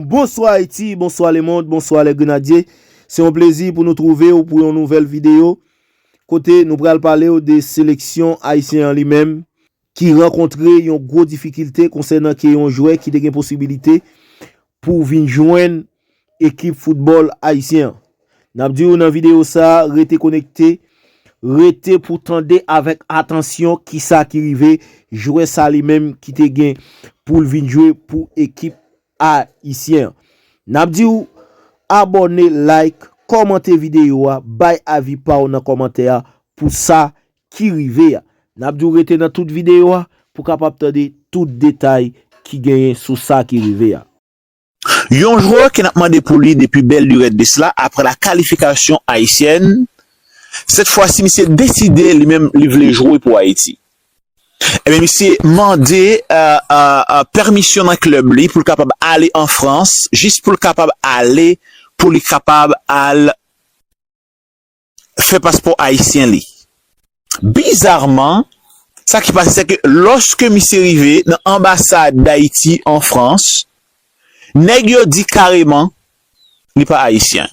Bonswa Ayiti, bonswa lemond, bonswa lè grenadye. Se yon plezi pou nou twouve w pou yon nouvèl videyo kote nou pral pale w de seleksyon ayisyen an li menm ki rankontre yon gwo difikilte konsènan ke yon jwè ki te gen posibilite pou vin jwenn ekip foutbòl ayisyen an. N ap di w nan videyo sa a rete konekte, rete pou tande avèk atansyon kisa ki rive jwè sa li menm ki te gen pou l vin jwe pou ekip ayisyen. Nap diw abòne like kòmante video a bay avi paw nan kòmantè a pou sa ki rive a. Nap diw rete nan tout video a pou kapab tande tout detay ki genyen sou sa ki rive a. Yon jwè ke nap mande pou li depi bèl lurèt de sla aprè la kalifikasyon ayisyèn, sèt fwasi misye deside li menm li vle jwe pou Ayiti. Ebyen misye mande pèmisyon nan klèb li pou l kapab ale an Frans jis pou l kapab ale pou li kapab al fè paspò ayisyen li. Bizarman sa ki pase se ke lòske misye rive nan anbasad Dayiti an Frans nèg yo di kareman li pa ayisyen.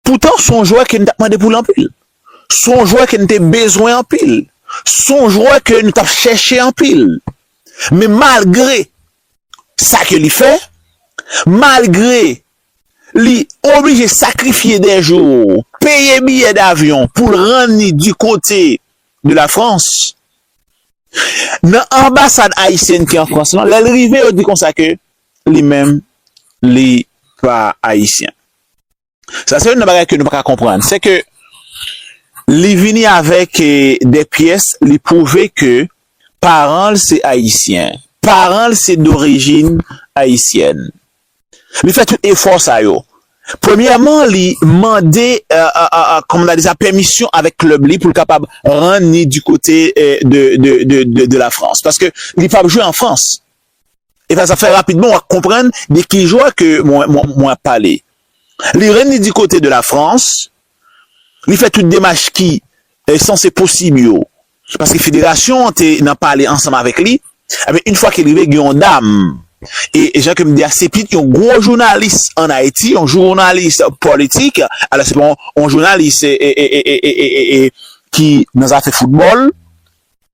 Poutan, son jwè ke n tap mande pou l anpil. Son jwè ke n te bezwen anpil. Son jwè ke nou tap chèche anpil. Men malgre sa ke li fè, malgre li oblije sakrifye dè jou, peye biyè davyon pou l rann li di kote de la Frans, nan anbasad ayisyèn ki an Frans lan, lè l rive yo di konsa ke li menm li pa ayisyen. Sa se youn nan bagay ke nou pa ka konprann. Se ke li vini avèk de pyès, li pwouve ke paran l se Ayisyen. Paran l se dorijin Ayisyèn. Li fè tout efò sa yo. Premyèman, li mande, kòman ta di sa, pèmisyon avèk klèb li pou l kapab rann ni di kote de la Frans. Paske li p ap jwe an Frans. E sa sa fè rapidman wap konprann de ki jwa ke mwen ap pale. Li rann li di kote de la Frans, li fè tout demach ki sanse posib yo, paske federasyon an te nan pale ansanm avèk li, enben yn fwa ke li rive gen yon dam, e jan ke m di a se pitit yon gwo jounalis an Ayiti, yon jounalis politik, alò se pa yon jounalis ki nan zafè foutbòl.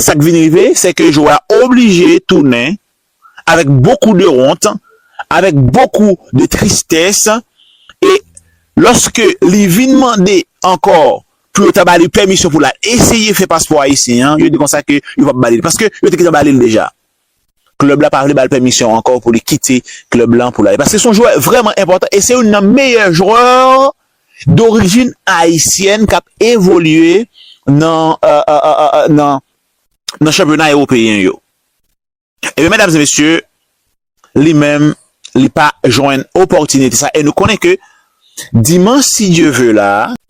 Sak vin rive se ke jwè a oblije tounen avèk bokou de wont, avèk bokou de tristès e lòske li vin mande ankò pou yo ta ba li pèmisyon pou l al eseye fè paspò ayisyen an, yo di konsa ke yo p ap ba li l paske yo te gentan ba li l deja. Klèb la pa vle ba l pèmisyon ankò pou li kite klèb lan pou l ale paske se yon jwè vrèman enpòtan e se youn nan meyè jwè dorijin ayisyèn k ap evolye nan chanpyona ewopeyen yo. Ebyen, medam e mesye, li menm li pa jwenn opòtinite sa e nou konnen ke dimanch si Dye ve la,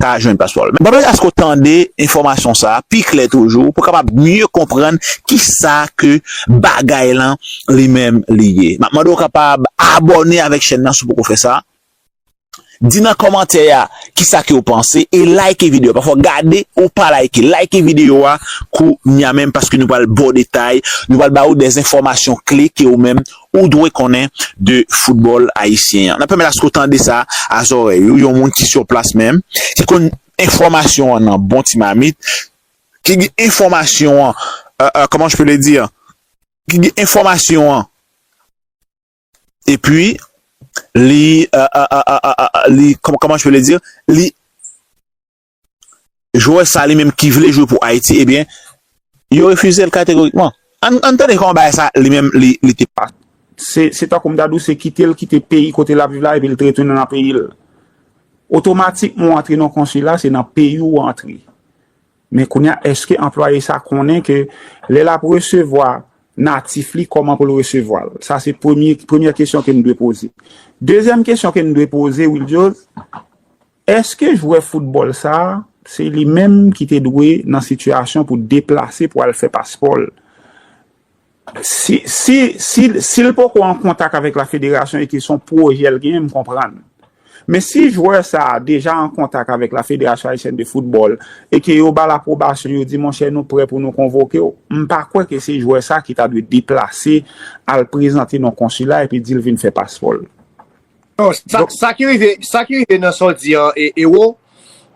ka jwenn paspò l. Mwen pèmèt aske w tande enfòmasyon sa a pi klè toujou pou w kapab mye konprann ki sa ke bagay lan li menm li ye. M ap mande w kapab abòne avèk chèn nan si w poko fè sa, di nan kòmantè a ki sa ke w panse e layke videyo a. Pafò w gade ou pa layke, layke videyo a kounya menm paske nou pral ba w detay, nou pral ba ou dèzenfòmasyon kle ke ou menm ou dwe konnen de foutbòl ayisyen an. N ap pèmèt aske w tande sa a zòrèy ou, yon moun ki sou plas menm, ki konn enfòmasyon an nan bon ti mamit, ki gen enfòmasyon an, kòman je peux le dire, ki gen enfòmasyon an epi li, kòman je peux le dire, li. jwè sa li menm ki vle jwe pou Ayiti ebyen yo refize l kategorikman. Ann ann tande kòman bagay sa li menm li te. Se tankou m ta di w se kite l kite peyi kote l ap viv la epi l te retounen nan peyi l. Otomatikman ou antre nan yon konsila se nan peyi w ou antre. Men kounye a èske anplwaye sa konnen ke lè l ap resevwa natif li kòman pou l resevwa l? Sa se premye premyè kesyon ke n dwe poze. Dezyèm kesyon ke n dwe poze Wildyòz Eske jwè foutbòl sa a se li menm ki te dwe nan sitiyasyon pou deplase pou al fè paspò l? Si si si l poko an kontak avèk la federasyon e ke son pwojè l genyen m konprann. Men si jwè sa a deja an kontak avèk la federasyon ayisyèn de foutbòl e ke yo ba l apwobasyon yo di monchè nou prè pou nou konvoke w m pa kwè ke se jwè sa ki ta dwe deplase al prezante nan konsila epi di l vin fè paspò l. Sa ki rive nan sa w di an Ero,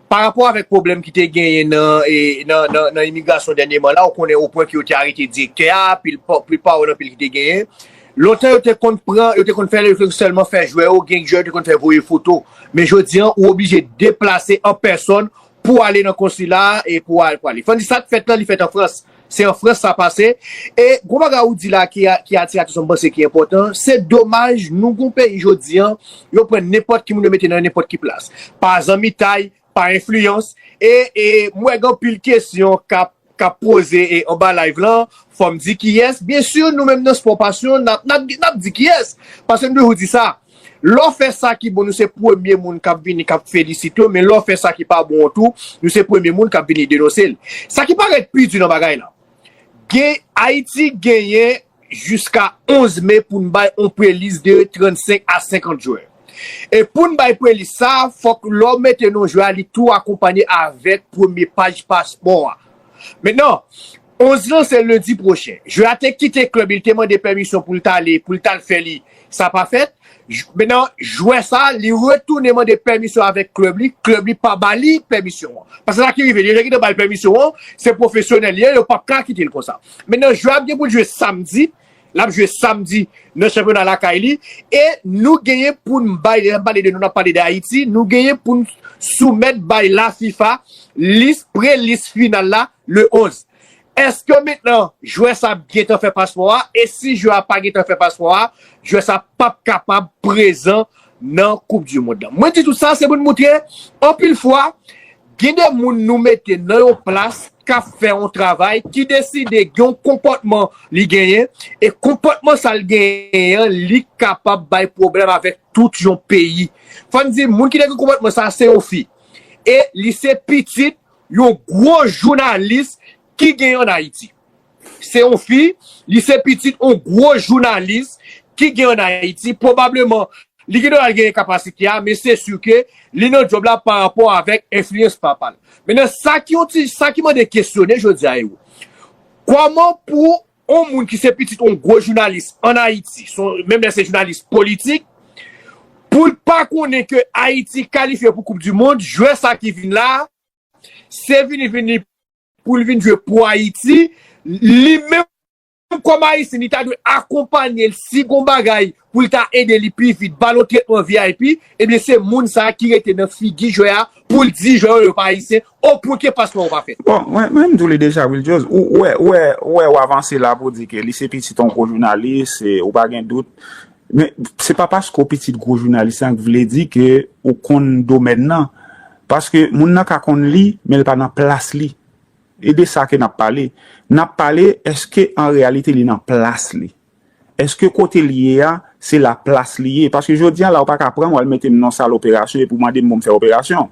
pa rapò avèk pwoblèm ki te genyen nan imigrasyon dènyeman la, ou konnen o pwen ke yo te arete direktè a, pil pa ou nan pil ki te genyen. Lontan yo te konn pran, yo te konn fè lè, yo te konn sèlman fè jwè yo, gen jwè yo te konn fè voye foto. Men jodi an, ou oblije deplase an pèsòn Pou ale nan konsila a e pou al pale. Fandy sak fèt lan li fèt an frans. Se an frans sa pase. E gwo bagay ou di la ki atire atansyon m panse ki enpòtan, se domaj nou gon peyi jodi an yo pran nenpòt ki moun yo mete nan nenpòt ki plas. Pa zanmitay, pa enfliyans e m wè gen anpil kesyon kap kap poze anba live lan fòm di kiyès byen sur nou menm nan spò pasyon nap di kiyès paske nou toujou di sa lò fè sa ki bon nou se premye moun kap vini kap felisite w men lò fè sa ki pa bon an tou nou se premye moun kap vini denonse l sa ki parèt pi di nan bagay la gen ayiti genyen jiska 11 me pou n bay yon prelis de 35 a 50 jwè. E pou n bay prelis sa, fòk lè w mete non jwè a li tou akonpanye avèk premye paj paspò a. Mentnan, 11 lan se lendi pwochen. Jwè a te kite klèb li, li te mande pèmisyon pou l t ale, pou l t al fè li Sa pa fèt, menan jwè sa li retounen mande pèmisyon avèk klèb li, klèb li pa ba li pèmisyon an. Paske sa ki rive, li gentan ba l pèmisyon an, se pwofesyonèl li ye, yo pap ka kite l konsa. Menan jwè ap gen pou l jwe samdi, l ap jwe samdi nan chanpyona lakay li e nou genyen pou n bay, lè n ap pale de nou n ap pale de Ayiti, nou genyen pou n soumèt bay la fifa lis, pre-lis final la le 11. Eske mentnan jwè sa ap gentan fè paspò a e si jwè a pa gentan fè paspò a jwè sa pap kapab prezan nan koup di mond lan. Mwen di tout sa se pou n moutre anpil fwa gen de moun nou mete nan yon plas k ap fè yon travay ki deside gen yon konpòtman li genyen e konpòtman sa l genyen an li kapab bay pwoblèm avèk tout yon peyi. Fò n di moun ki te gen konpòtman sa se yon fi e li se pitit Yon gwo jounalis ki gen an Ayiti. Se yon fi, li se pitit yon gwo jounalis ki gen an Ayiti. Pwobableman, li gen dwa al genyen kapasite a, men se si ke li nan djòb la pa rapò avèk enfliyans papa l. Mennen, sa ki yon ti, sa ki mande kesyone jodi a, Ewou. Kòman pou On moun ki se pitit on gwo jounalis an Ayiti, menm lè se jounalis politik, pou l pa konnen ke Ayiti kalifye pou koup di mond, jwè sa ki vin la, se vini vini pou l vin jwe pou Ayiti, li menm kòm Ayisyen li ta dwe akonpanye l si gon bagay pou l ka ede li pi vit, ba l yon tretman vip, ebyen se moun sa ki rete nan figi jwè a pou l di jwè yo yo pa ayisyen, o pwen ke paspò ou pa fèt. Bon, mwen menm di w li deja wi Ljoz, ou wè, ou wè, ou wè w avanse la pou w di ke li se pitit yon gwo jounalis, e ou pa gen dout, men se pa paske w pitit gwo jounalis lan ki vle di ke ou konn domèn lan, paske moun nan ka konn li, men l pa nan plas li, e de sa ke n ap pale, n ap pale eske an reyalite li nan plas li. Eske kote l ye a, se la plas li ye? Paske jodi a la ou pa ka pran m w al mete m nan sal operasyon epi w mande m pou m fè operasyon.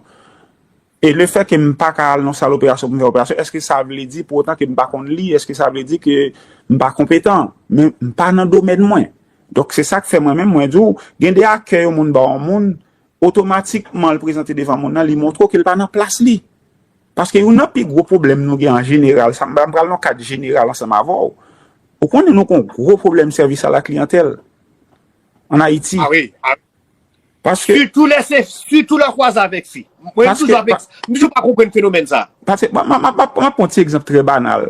E le fè ke m pa ka al nan sal operasyon pou m fè operasyon, eske sa vle di pou otan ke m pa konn li? Eske sa vle di ke m pa konpetan? Men, m pa nan domèn mwen. Donk, se sa k fè mwen menm mwen di w, gen de akè yon moun ba yon moun, otomatikman l prezante devan moun nan, li montre w ke l pa nan plas li. Paske youn nan pi gwo pwoblèm nou gen an jeneral, sa m pa, m pral nan kad jeneral ansanm avè w, ou konnen nou gen yon gwo pwoblèm sèvis a la kliyantèl an Ayiti. A wi, a wi. Paske. Sitou lè se, sitou lè w kwaze avèk fi. Mwen m toujou ap ekz, m toujou pa konprann fenomèn sa a. Paske, m ap, m ap pran yon ti egzanp trè banal.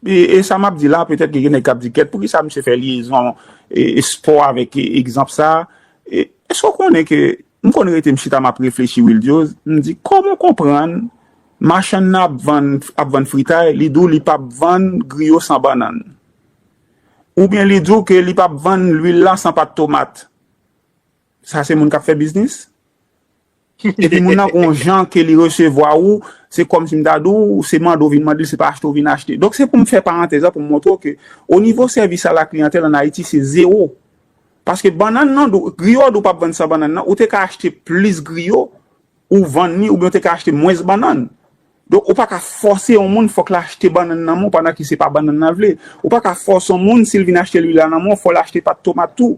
E sa m ap di la, petèt ke gen nèg k ap di kèt, poukisa misye fè lyezon, espò avèk egzanp sa a? Èske w konnen ke M konn rete m chita map reflechi Wildiose, m di koman w konprann machann nan ap vann ap vann fritay li di w li pap vann griyo san bannann oubyen li di w ke li pap vann lwil la san pat tomat sa se moun kap fè biznis? Epi moun nan gon jan ke li resevwa ou se kòmsi m ta di w se mande w vin mande l se pa achte w vin achte. Donk se pou m fè parantèz la pou m montre w ke onivo sèvis a la kliyantèl an Ayiti se zewo. Paske bannann nan dou, griyo a dou pap vann san bannann nan, ou te ka achte plis griyo ou vann li oubyen ou te ka achte mwens bannann. Donk ou pa ka fòse yon moun fòk l achte bannann nan men w pandan ke se pa bannann nan l vle. Ou pa ka fòse yon moun si l vin achte lwil la nan men w fò l achte pat tomat tou.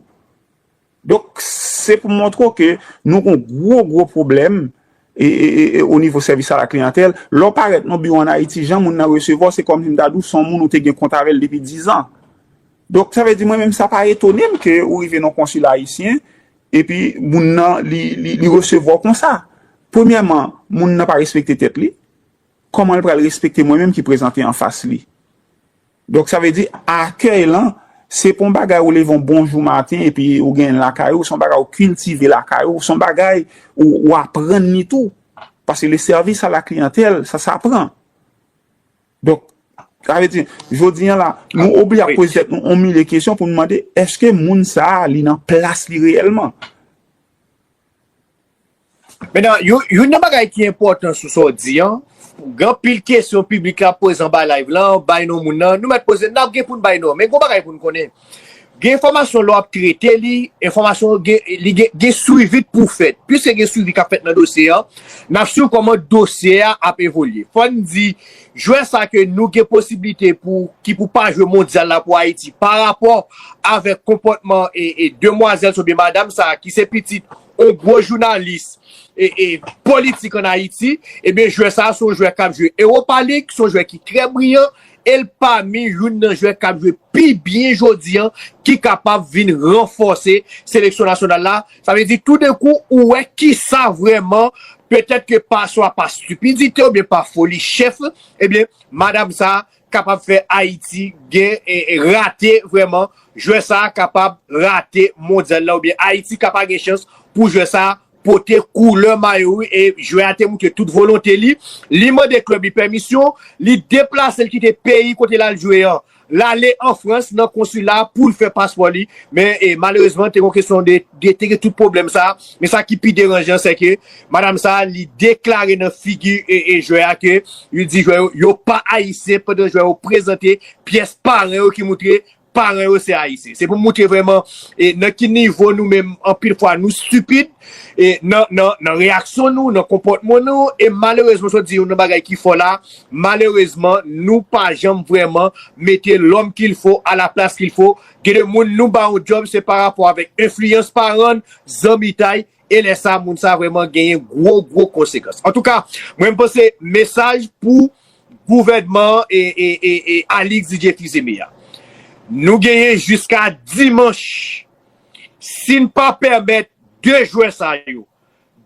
Donk se pou m montre w ke nou gon gwo gwo pwoblèm e o nivo sèvis a la kliyantèl. Lè w parèt nan yon biwo an Ayiti jan moun nan resevwa w se kòmsi m ta di w se yon moun ou te gen kont avè l depi dizan. Donk sa vle di mwen menm sa pa etone m ke ou rive nan konsil ayisyen epi moun nan li resevwa w konsa. Premyèman, moun nan pa respekte tèt li, kòman l pral respekte mwen menm ki prezante anfas li? Donk sa vle di akèy lan se pa yon bagay ou leve yon bon jou maten epi ou genyen l lakay ou, se yon bagay ou kiltive lakay ou, se yon bagay ou aprann li tou. Paske le service à la clientèle sa sapran. Donk, sa vle di, jodi an la, nou oblije ap poze tèt nou yon milye kesyon pou nou mande, èske moun sa a, li nan plas li reyèlman? Menan, youn nan bagay ki enpòtan sou sa w di an, gen anpil kesyon piblik la ap poze anba live la, bay non moun nan, nou mèt poze, n ap gen pou n bay non. Men gen yon bagay pou n konnen, Gen enfòmasyon lè w ap trete li, enfòmasyon yo gen, li gen, gen swivi k pou fèt. Piske gen swivi k ap fèt nan dosye an, n ap swiv kòman dosye a ap evolye. Fò n di, jwè sa ke nou gen posiblite pou, ki pou pa jwe mondyal la pou Ayiti, parapò avèk konpòtman e, e demwazèl sa oubyen madam sa ki se pitit on gwo jounalis e, e politik an Ayiti, ebyen jwè sa se yon jwè k ap jwe Ewopalig, se yon jwè ki trè briyan. e l pami youn nan jwè k ap jwe pi byen jodi an ki kapab vin ranfòse seleksyon nasyonal la. Sa vle di toudenkou ou wè kisa vrèman petèt ke pa swa pa stipidite oubyen pa foli chèf ebyen madam sa kapab fè Ayiti gen rate vrèman jwè sa kapab rate mondyal la oubyen Ayiti ka pa gen chans pou jwè sa pote koulè mayo li e jwè a te moutre tout volonte li. Li mande klèb li pèmisyon, li deplase l kite peyi kote l al jwe an. L ale an Frans nan konsila a pou l fè paspò li. Men e malerezman te gen yon kesyon de te gen tout pwoblèm sa a. Men sa ki pi deranjan se ke madam sa a li deklare nan figi e jwè a ke li di jwè yo yo pa ayisyen pandan jwè yo prezante pyès paran yo ki moutre Paran yo se Ayisyen. Se pou moutre vreman nan ki nivo nou menm anpil fwa nou stupid nan reyaksyon nou, nan konpòtman nou. E malerezman, se w di yon nan bagay ki fò la, malerezman nou pa janm vreman mete lòm kil fo a la plas kil fo. Gen de moun nou ba yon djòb se pa rapò avèk enfliyans paran, zanmitay. E lè sa moun sa vreman genyen gwo gwo konsekans. Antouka mwen panse mesaj pou gouvènman an e Alix Didier Fils-Aimé a. Nou genyen jiska dimanch si n pa pèmèt 2 jwè sa yo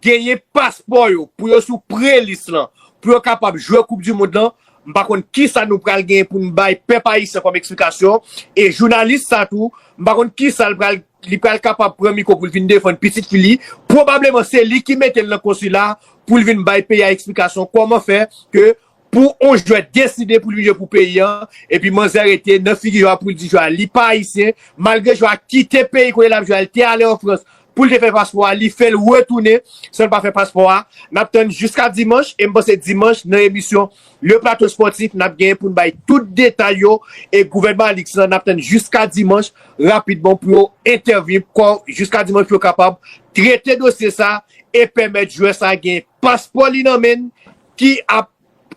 genyen paspò yo pou yo sou pre lis lan pou yo kapab jwè koup di mond lan m pa konn kisa nou pral genyen pou n bay pèp ayisyen kòm eksplikasyon e jounalis sa tou m pa konn kisa l pral li pral kapab pran mikwo pou l vin defann pitit fi li, pwobableman se li ki mete l nan konsila a pou l vin bay peyi a eksplikasyon kòman fè ke pou on jwè deside pou l vin jwe pou peyi an epi manzè rete nan figi jwè a pou l di jwè a li pa ayisyen malgre jwè a kite peyi kote l ap jwe a li te ale an frans pou l te fè paspò a li fè l retounen san l pa fè paspò a n ap tann jiska dimanch e m panse dimanch nan emisyon Le Plateau Sportif nap genyen poun bay tout detay yo e gouvènman Alix lan nap tann jiska dimanch rapidman pou yo entèvni kò jiska dimanch pou yo kapab trete dosye sa e pèmèt jwè sa gen paspò li nan menn ki ap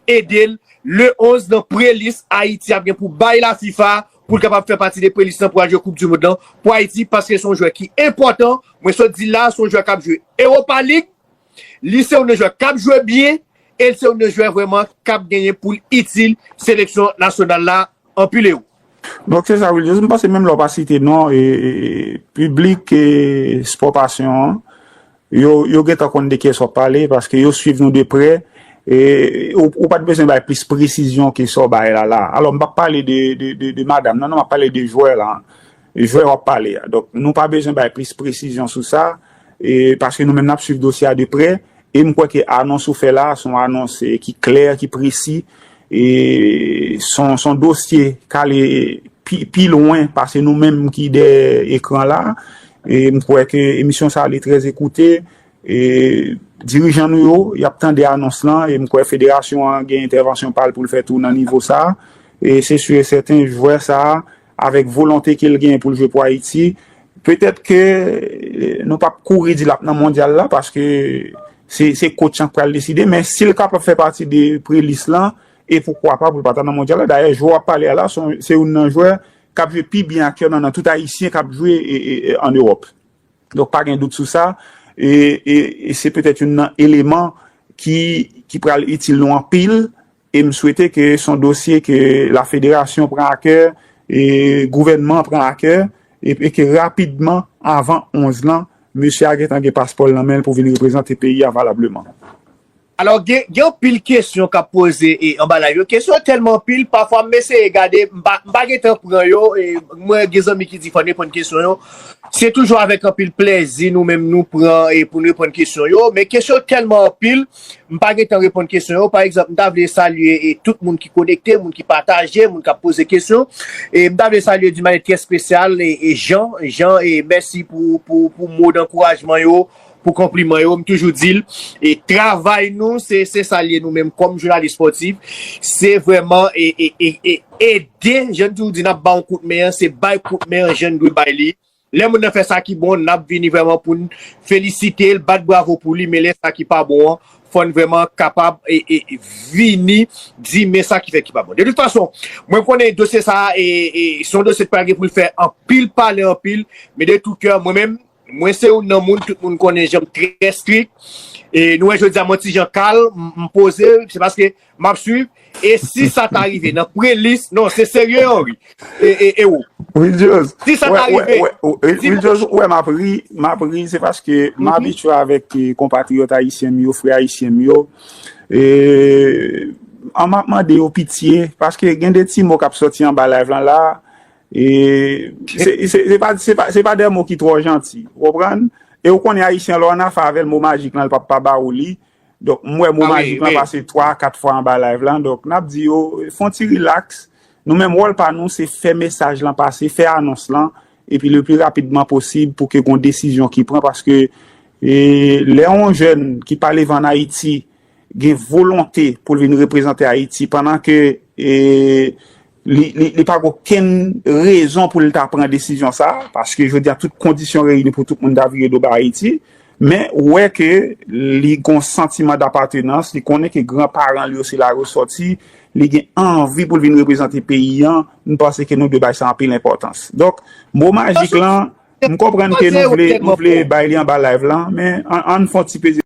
edel le 11 nan prelis Ayiti ap gen pou bay la fifa poul kapab fè pati de prelis lan pou al jwe koup di mond lan pou Ayiti paske son jwè ki enpòtan mwen sot dil la son jwè kap jwe Europa League Li se youn nan jwè k ap jwe byen e l se youn nan jwè vrèman k ap genyen pou l itil seleksyon nasyonal la. Anpil ero. Donk se sa wi Lyes, m panse menm lè w pa site non piblik Sport Passion an, yo gentan konn de kiyès w ap pale paske yo swiv nou de prè e ou pa t bezwen bay plis presizyon ke sa w bay la la. Alò m p ap pale de madam nan non, m ap pale de jwè la. Jwè w ap pale a. Donk, nou pa bezwen bay plis presizyon sou sa, paske nou menm n ap suiv dosye a de prè, e m kwè ke anons ou fè la a, se yon anons ki klè, ki presi, e se yon dosye k ale pi lwen pase nou menm ki dèyè ekran la a, e m kwè ke emisyon sa a ale trè ekoute, e dirijan nou yo, y ap tande anons lan, e m kwè federasyon an gen entèvansyon pa l pou l fè tou nan nivo sa a, e se si e sèten jwè sa a, Avèk volonte ke l genyen pou l jwe pou Ayiti, petèt ke nou pap kouri di l ap nan mondyal la paske se kotch an k pral deside, men si l kapab fè pati de pre-lis lan, e poukwa pa pou l pa ta nan mondyal la. Dayè, jwè w ap pale a la, se youn nan jwè k ap jwe pi byen aktyèlman nan tout Ayisyen k ap jwe an Ewòp. Donk pa gen dout sou sa, e se petèt youn nan eleman ki pral itil nou anpil. E m swete ke s on dosye ke la federasyon pran a kè, e gouvènman an pran a kè, e ke rapidman, avan 11 lan, mesye a gentan gen paspò l nan men l pou vin reprezante peyi a valableman. Alò, gen anpil kesyon k ap poze anba layv yo. Kesyon yo tèlman anpil, pafwa m eseye gade, m pa gen tan pran yo. Mwen gen zanmi ki di fò n reponn kesyon yo. Se toujou avèk anpil plèzi nou menm nou pran pou n reponn kesyon yo. Men kesyon yo tèlman anpil. M pa gentan reponn kesyon yo. Pa egzanp, m ta vle salye tout moun ki konekte, moun ki pataje, moun k ap poze kesyon. M ta vle salye d'une manière très spéciale Jean. Jean, mèsi pou mo dankourajman yo, pou konpliman yo. M toujou di l, travay nou se sa l ye nou menm kòm jounalis spòtif, se vrèman ede, jan n toujou di n ap ba yon kout men an, se bay kout men an jan n dwe bay li. Lè moun nan fè sa ki bon, n ap vini vrèman pou n felisite l, bat bravo pou li, men lè sa ki pa bon an, fò n vrèman kapab vini di men sa ki fè ki pa bon. De tout fason, mwen konnen dosye sa a se yon dosye ki pral gen pou l fè anpil pale anpil, men de tout kè, mwen menm, mwen se youn nan moun, tout moun konnen jan m trè strik, e nou wè jodi a mwen ti jan kalm, m poze, se paske Map swiv e si sa ta rive nan pre list non se serye Henry e ou. Ridjòz, Ridjòz ou wè map ri, map ri se paske m abitye avèk konpatriyòt ayisyen m yo, frè ayisyen m yo e an map mande yo pitye paske gen de ti mo kap sòti anba live lan la e se pa de mo ki twò janti ou konprann e ou konnen ayisyen lè w anafa avè l mo majik lan l pap pa ba ou li Donk m wè mo majik lan pase 3 a 4 fwa anba live lan, donk n ap di yo fon ti rilaks, nou menm wòl pa nou se fè mesaj lan pase, fè anons lan, epi le pli rapidman posib pou ke gon desizyon ki pran, paske lè yon jèn ki pale van Ayiti gen volonte pou l vin reprezante Ayiti, pandan ke Li pa gen okenn rezon pou l ta pran desizyon sa a, paske jodi a tout kondisyon reyini pou tout moun ta vire do bay Ayiti, men ou wè ke li gen yon santiman dapatenans, li konnen ke gran paran li yo se la yo sòti, li gen anvi pou l vin reprezante peyi an, m panse ke nou dwe bay sa anpil enpòtans. Donk, mo majik lan, m konprann ke nou vle bay li anba live lan, men an n fon ti peze.